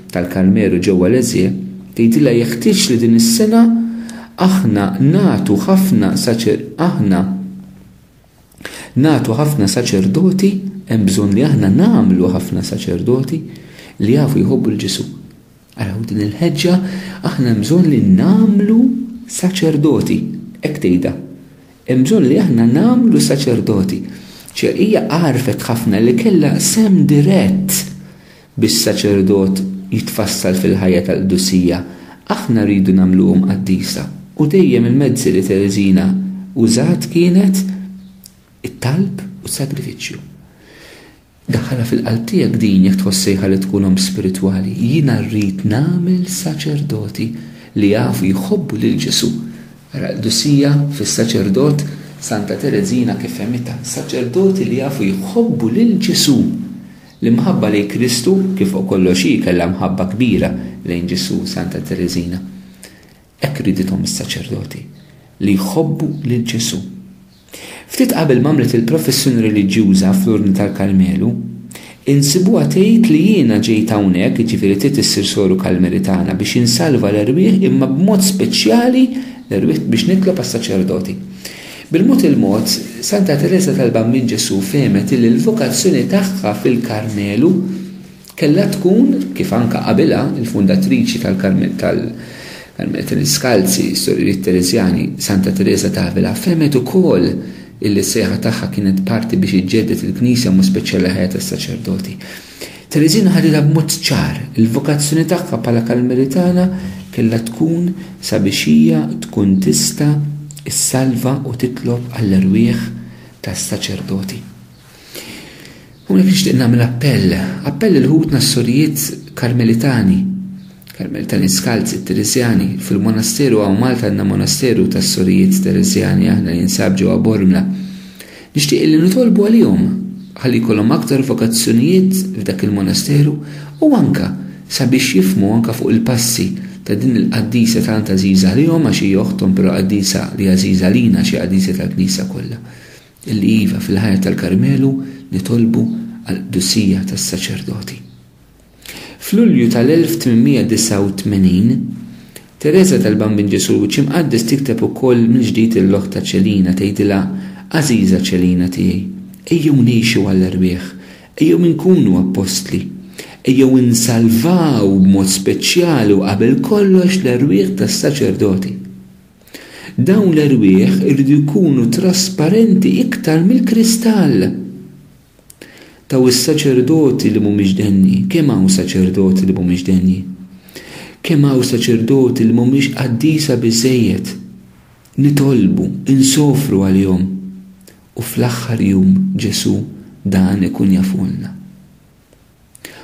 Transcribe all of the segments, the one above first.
tal-Karmelu ġewwa Lezhë, tgħidilha jeħtieġ li din is-sena aħna nagħtu ħafna aħna nagħtu ħafna saċerdoti, hemm bżonn li aħna nagħmlu ħafna saċerdoti li jafu jħobbu lil Ġesù. Araw din il-ħeġġa aħna hemm bżonn li nagħmlu saċerdoti, hekk tgħidha. Hemm bżonn li aħna nagħmlu saċerdoti. Ċe hija għarfet ħafna li kellha sem dirett Biex saċerdot jitfassal fil-ħajja tal-qdusija, aħna rridu nagħmluhom qaddisa. U dejjem il-mezzi li Tereżina użat kienet it-talb u s-sagrifiċċju. Daħħalha fil-qalb tiegħek din jekk tħoss sejħa li tkun omm spiritwali. Jiena rrid nagħmel saċerdoti li jafu jħobbu lil Ġesù. Ara l-qdusija fis-saċerdot Santa Tereżina kif fehmitha, saċerdoti li jafu jħobbu lil Ġesù. L-imħabba lejn Kristu, kif fuq kollox hi kellha mħabba kbira lejn Ġesù, Santa Tereżina. Hekk riedithom is-saċerdoti, li jħobbu lil Ġesù. Ftit qabel ma għamlet il-professjoni reliġjuża fl-Urni tal-Karmelu, insibuha tgħid li jiena ġejt hawnhekk, jiġifieri trid issir soru Kalmelitana, biex insalva l-erwieħ imma b'mod speċjali l-erwieħ biex nitlob għas-saċerdoti. Bil-mod il-mod, Santa Tereża tal-Bambin Ġesù fehmet illi l-vokazzjoni tagħha fil-Karmelu kellha tkun, kif anke qabilha, il-fundatriċi tal-Karmelitani Skalzi, s-Sororijiet Tereżjani. Santa Tereża t'Avila fehmet ukoll illi s-sejħa tagħha kienet parti biex iġġedded il-Knisja b'mod speċjali l-ħajja tas-saċerdoti. Tereżina ħaditha b'mod ċar, il-vokazzjoni tagħha bħala Karmelitana kellha tkun sabiex hija tkun tista' ssalva u titlob għall-erwieħ tas-saċerdoti. Hawnhekk nixtieq nagħmel appell, appell lil ħutna s-sorijiet Karmelitani, Karmelitani Skalzi, Tereżjani, fil-monasteru hawn Malta għandna monasteru tas-sorijiet Tereżjani aħna jinsab ġewwa Bormla. Nixtieq illi nitolbu għalihom ħalli jkollhom aktar vokazzjonijiet f'dak il-monasteru u anke sabiex jifhmu anke fuq il-passi ta' din il-qaddisa tant għażiża għalihom għax hi oħthom però qaddisa li għażiża għalina għax hi qaddisa tal-Knisja kollha. Illi iva fil-ħajja tal-Karmelu nitolbu għall-qdusija tas-saċerdoti. F'Lulju tal-1889, Tereża tal-Bambin Ġesù l-Wiċċ Imqaddes tikteb ukoll mill-ġdid lill-oħtha Ċelina, tgħidilha, Għażiża Ċelina tiegħi, ejjew ngħixu għall-erwieħ, ejjew inkunu appostli, ejjew insalvaw b'mod speċjali u qabel kollox l-erwieħ tas-saċerdoti. Dawn l-erwieħ iridu jkunu trasparenti iktar mill-kristall. Taw is-saċerdoti li mhumiex denji. Kemm hawn saċerdoti li mhumiex denji? Kemm hawn saċerdoti li mhumiex qaddisa biżżejjed? Nitolbu, insofru għalihom. U fl-aħħar jum Ġesù dan ikun jafulna.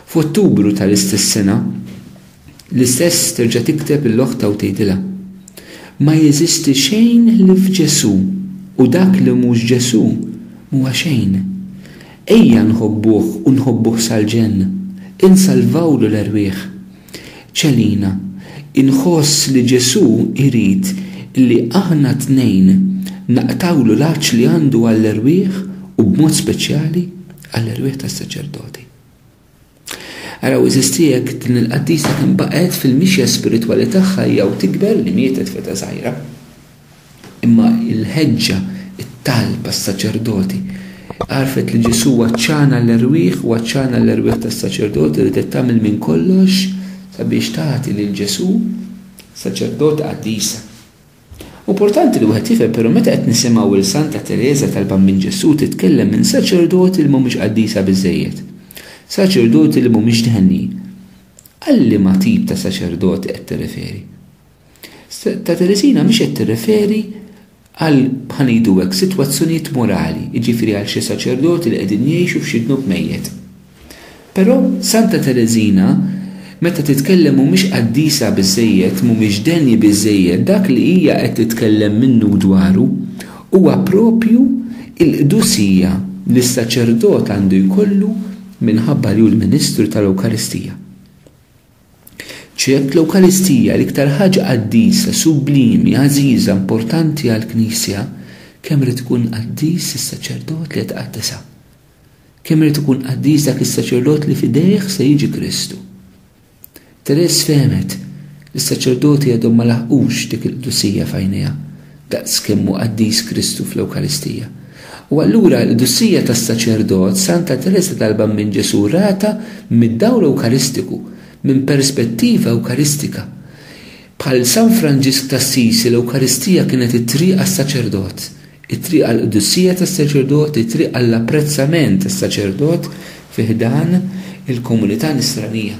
F'Ottubru tal-istess sena, l-istess terġa' tikteb lill-oħtha u tgħidilha, Ma jeżisti xejn ħlief Ġesù u dak li mhux Ġesù m'huwa xejn. Ejja nħobbuh u nħobbuh sal-ġenn, insalvawlu l-erwieħ. Celina, Inħoss li Ġesù jrid li aħna t-tnejn naqtgħulu l-għatx li għandu għall-erwieħ u b'mod speċjali għall-erwieħ tas-saċerdoti. Araw għeżiżti jekk din il-qaddisa kemm baqgħet fil-mixja spiritwali tagħha hija u tikber li mietet f'età żgħira. Imma l-ħeġġa, it-talb għas-saċerdoti, għarrfet li Ġesù għaċċana l-erwieħ u għaċċana l-erwieħ tas-saċerdoti li ridet tagħmel minn kollox sabiex tagħti lil Ġesù saċerdota qaddisa. Hu importanti li wieħed jifhem però meta qed nisimgħu lil Santa Tereża tal-Bambin Ġesù titkellem minn saċerdoti li mhumiex qaddisa biżżejjed, saċerdoti li mhumiex dehnin. Għal liema tip ta' saċerdoti qed tirreferi? Ta' Teresina mhix qed tirreferi għal bħa ngħidu hekk sitwazzjonijiet morali, jiġifieri għal xi saċerdoti li qegħdin jgħixu f'xi dnub mejjet. Però Santa Teresina meta titkellem mhumiex qaddisa biżżejjed, mhumiex denji biżżejjed, dak li hija qed titkellem minnu u dwaru huwa proprju l-qdusija li s-saċerdot għandu jkollu minħabba li hu l-ministru tal-Ewkaristija. Ċert, l-Ewkaristija, l-iktar ħaġa qaddisa, sublimi, għażiża, importanti għall-Knisja, kemm irid ikun qaddis is-saċerdot li qed iqaddisha! Kemm irid ikun qaddis dak is-saċerdot li f'idejh se jiġi Kristu! Therese fehmet li s-saċerdoti għadhom ma laħqux dik il-qdusija f'għajnejha. daqs kemm hu qaddis Kristu fl-Ewkaristija. U allura l-qdusija tas-saċerdot Santa Tereża tal-Bambin Ġesù ratha mid-dawl Ewkaristiku, minn perspettiva Ewkaristika. Bħal San Franġisk t'Assisi l-Ewkaristija kienet it-triq għas-saċerdot, it-triq għall-qdusija tas-saċerdot, it-triq għall-apprezzament tas-saċerdot fi ħdan il-komunità Nisranija.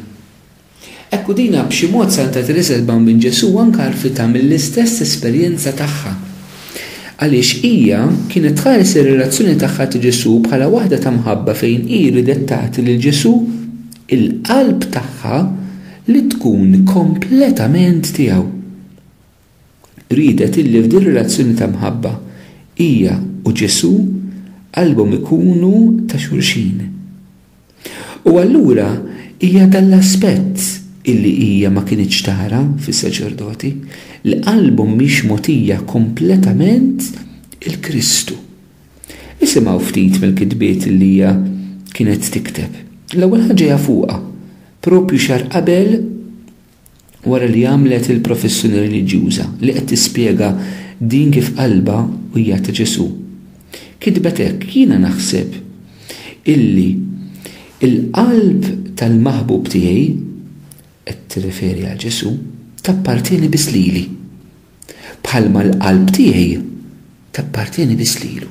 Hekk u dina b'xi mod saltat riserva minn Ġesù u anke għarfitha mill-istess esperjenza tagħha. Għaliex hija kienet tħares ir-relazzjoni tagħha ta' Ġesù bħala waħda ta' mħabba fejn hi riedet tagħti lil Ġesù il-qalb tagħha li tkun kompletament tiegħu. riedet illi f'din relazzjoni ta' mħabba hija u Ġesù qalbhom ikunu ta' xulxin. U allura hija dan l-aspett illi hija ma kinitx tara fis-saċerdoti, li qalbhom mhix mogħtija kompletament 'il Kristu. Isimgħu ftit mill-kitbiet illi hija kienet tikteb. L-ewwel ħaġa hija fuqha, proprju xahar qabel wara li għamlet il-professjoni reliġjuża li qed tispjega din kif qalbha u hija ta' Ġesù. Kitbet hekk, Jiena naħseb illi l-qalb tal-maħbub tiegħi, qed tirreferi għal Ġesù, tappartjeni biss lili, bħalma l-qalb tiegħi tappartjeni biss lilu.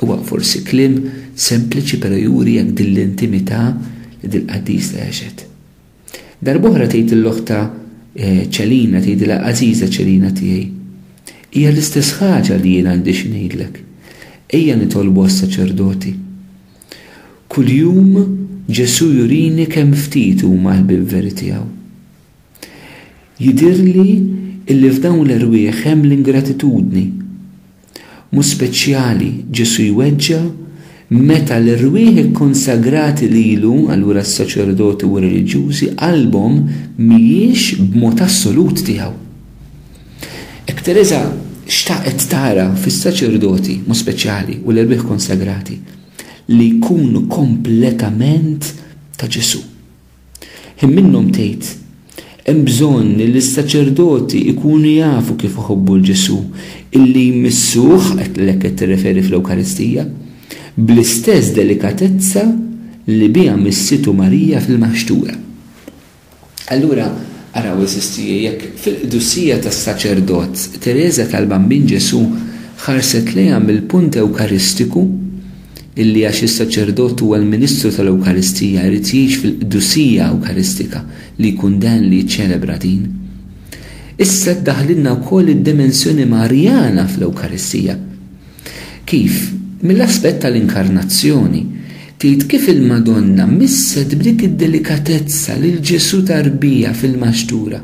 Huwa forsi kliem sempliċi però juri hekk din l-intimità li dil-qaddisa għexet. Darb'oħra tgħid lil oħtha Celina, tgħidilha Għażiża Celina tiegħi, hija l-istess ħaġa li jien għandi xi ngħidlek. Ejja nitolbu għas-saċerdoti. Kuljum Ġesù jurini kemm ftit huma l-ħbieb veri tiegħu. Jidhirli illi f'dawn l-erwieħ hemm l-ingratitudni. B'mod speċjali, Ġesù jweġġa' meta l-erwieħ ikkonsagrati lilu, allura s-saċerdoti u r-reliġjużi, qalbhom mhijiex b'mod assolut tiegħu. Hekk Tereża xtaqet tara fis-saċerdoti, b'mod speċjali, u l-erwieħ konsagrati, li jkunu kompletament ta' Ġesù. Hi minnhom tgħid, Hemm bżonn li s-saċerdoti jkunu jafu kif iħobbu 'l Ġesù, illi jmissuh, għalhekk qed tirreferi fl-Ewkaristija, bl-istess delikatezza li biha missietu Marija fil-Maħxtura. Allura, araw għeżież tiegħi, jekk fil-qdusija tas-saċerdot Tereża tal-Bambin Ġesù ħarset lejha mill-punt Ewkaristiku, illi għax is-saċerdot huwa l-ministru tal-Ewkaristija jrid jgħix fil-qdusija Ewkaristika li jkun dehn li jiċċelebra din. Issa ddaħħlilna wkoll id-dimensjoni Marjana fl-Ewkaristija. Kif? Mill-aspett tal-Inkarnazzjoni. Tgħid kif il-Madonna misset b'dik id-delikatezza lil Ġesù tarbija fil-maxtura.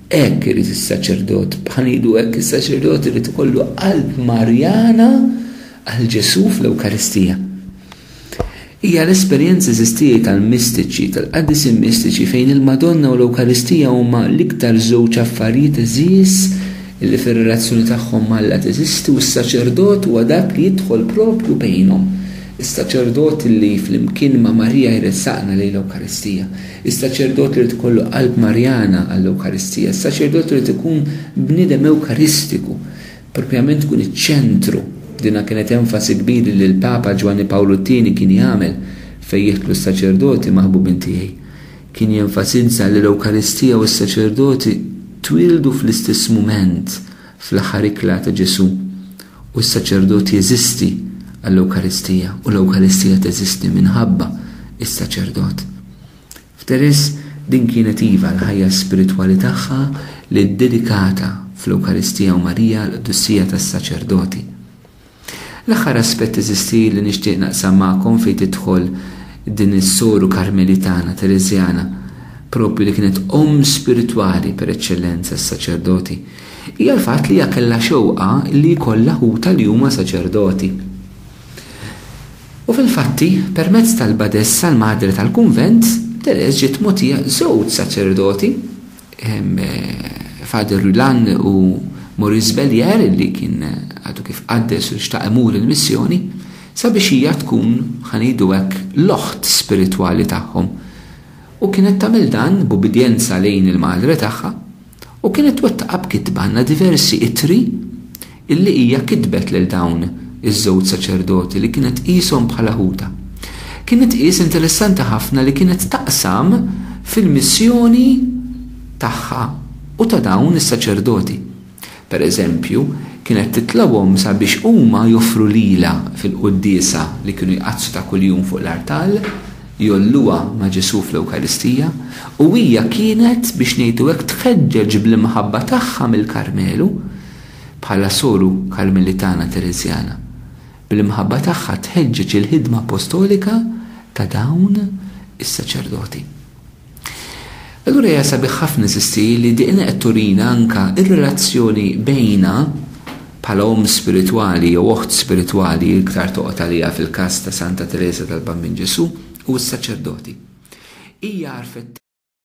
Hekk irid is-saċerdot, bħal ngħidu hekk is-saċerdot irid ikollu qalb Marjana Għal Ġesù fl-Ewkaristija. Hija l-esperjenza eżistija tal-mistiċi, tal-qaddisin mistiċi fejn il-Madonna u l-Ewkaristija huma l-iktar żewġ affarijiet għeżież li fir-relazzjoni tagħhom m'Alla teżisti u s-saċerdot huwa dak li jidħol proprju bejnhom. Is-saċerdot li flimkien ma' Marija jressaqna lejn l-Ewkaristija. Is-saċerdot li jrid ikollu qalb Marjana għall-Ewkaristija. Is-saċerdot irid ikun bniedem Ewkaristiku. Propjament tkun iċ-ċentru. Dinha kienet enfasi kbiri li l-Papa Ġwanni Pawlu t-Tieni kien jagħmel fejn jidħlu s-saċerdoti maħbubin tiegħi. Kien jenfasizza li l-Ewkaristija u s-saċerdoti twieldu fl-istess mument fl-aħħar ikla ta' Ġesù u s-saċerdot jeżisti għall-Ewkaristija u l-Ewkaristija teżisti minħabba s-saċerdot. F'Thérèse din kienet iva l-ħajja spiritwali tagħha li ddedikata fl-Ewkaristija u Marija l-qdussija tas-saċerdoti. L-aħħar aspett eżisti li nixtieq naqsam magħkom fejn tidħol din is-soru Karmelitana, Tereżjana, proprju li kienet omm spiritwali per eċċellenza għas-saċerdoti, hija l-fatt li hija kellha xewqa li jkollha ħutha li huma saċerdoti. U fil-fatti, permezz tal-badessa l-Madre tal-Kunvent, Thérèse ġiet mogħtija żewġ saċerdoti, Father Rulan u Maurice Bellière li kien għadu kif qaddes u xtaq imur il-missjoni, sabiex hija tkun, ħa ngħidu hekk, l-oħt spiritwali tagħhom. U kienet tagħmel dan b'ubbidjenza lejn il-Madre tagħha. U kienet twettaqha b'kitba għandna diversi ittri illi hija kitbet lil dawn iż-żewġ saċerdoti li kienet tqishom bħala ħutha. Kienet tqis interessanti ħafna li kienet taqsam fil-missjoni tagħha u ta' dawn is-saċerdoti. Per eżempju, kienet titlobhom sabiex huma joffru lilha fil-quddiesa li kienu jqaddsu ta' kuljum fuq l-artal, jgħolluha ma' Ġesù fl-Ewkaristija, u hija kienet, biex ngħidu hekk, tħeġġeġ bl-imħabba tagħha mill-Karmelu, bħala soru Karmelitana Tereżjana, bl-imħabba tagħha tħeġġeġ il-ħidma appostolika ta' dawn is-saċerdoti. Allura hija sabiħ ħafna insisti li diqna qed turina anke r-relazzjoni bejna bħala omm spiritwali jew oħt spiritwali iktar toqgħod għaliha fil-każ ta' Santa Tereża tal-Bambin Ġesù u s-saċerdoti. Hija għarfet